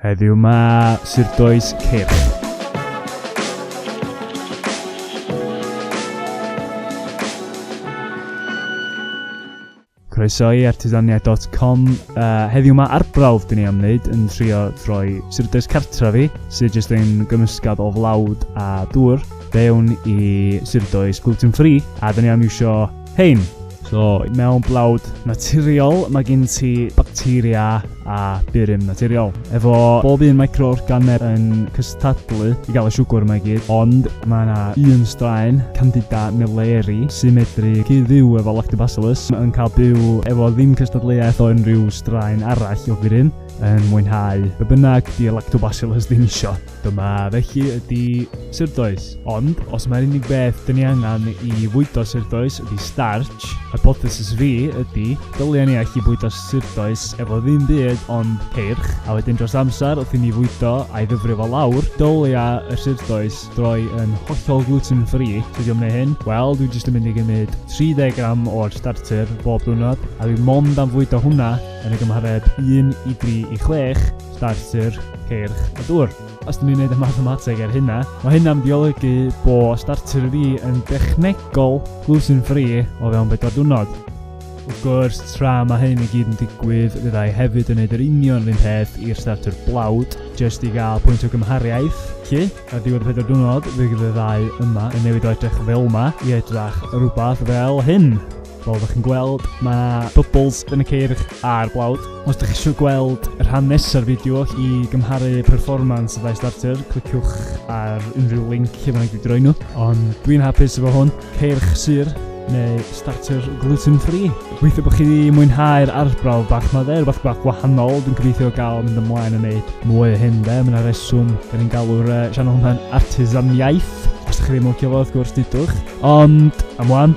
Heddiw 'ma, Sir Dois Cyrch. Croeso i artisonia.com. Uh, heddiw yma arbrawf dyn ni am wneud yn trio troi syrdes cartra fi, sydd jyst yn gymysgad o flawd a dŵr, fewn i syrdoes gluten free, a dyn ni am iwsio Hein. So, mewn blawd naturiol, mae gen ti bacteria a burum naturiol. Efo bob un microorganeb yn cystadlu i gael y siwgwr yma i gyd, ond mae yna un straen, Candida milleri, sy'n medru cyd-fyw efo lactobacillus, yn cael byw efo ddim cystadleuaeth o unrhyw straen arall o burum, yn mwynhau be bynnag di lactobacillus ddim isio. Dyma felly ydi surdoes. Ond, os mae'r unig beth dyn ni angen i fwydo surdoes ydi starch, hypothesis fi ydi, dylia ni allu bwydo surdoes efo ddim byd ond ceirch, a wedyn dros amser wrth i ni fwydo a'i ddyfrio fo lawr, dylia y surdoes droi yn hollol gluten free. Sut i o'm neu hyn? Wel, dwi jyst yn mynd i gymryd 30 gram o'r starter bob diwrnod, a dwi mond am fwydo hwnna yn y gymhareb 1 i 3 i 6, Starter, Ceirch a Dŵr. Os dyn ni'n gwneud y mathemateg ar hynna, mae hynna'n biolygu bo Starter fi yn dechnegol glwsyn ffri o fewn bedwar diwrnod. Wrth gwrs, tra mae hyn i gyd yn digwydd, fydda i hefyd yn gwneud yr union rhywun peth i'r Starter blawd, jyst i gael pwynt o gymhariaeth. Lle, ar ddiwedd y pedwar diwrnod, fe gyda ddau yma yn newid o edrych fel yma i edrych rhywbeth fel hyn. Fel ydych chi'n gweld, mae yna bubbles yn y ceirch a'r blawd. Os ydych chi eisiau gweld y rhan nesaf fideo i gymharu performance y ddau starter, cliciwch ar unrhyw link lle mae'n wedi droi nhw. Ond dwi'n hapus efo hwn, ceirch syr neu starter gluten free. Gweithio bod chi wedi mwynhau'r arbrawf bach ma dde, rhywbeth bach gwahanol, dwi'n gobeithio gael mynd ymlaen yn neud mwy o hyn dde, mae'n yna reswm, da ni'n galw'r uh, sianel hwnna'n artisaniaeth, os ydych chi ddim yn licio fo, wrth gwrs, dudwch. Ond, am wan,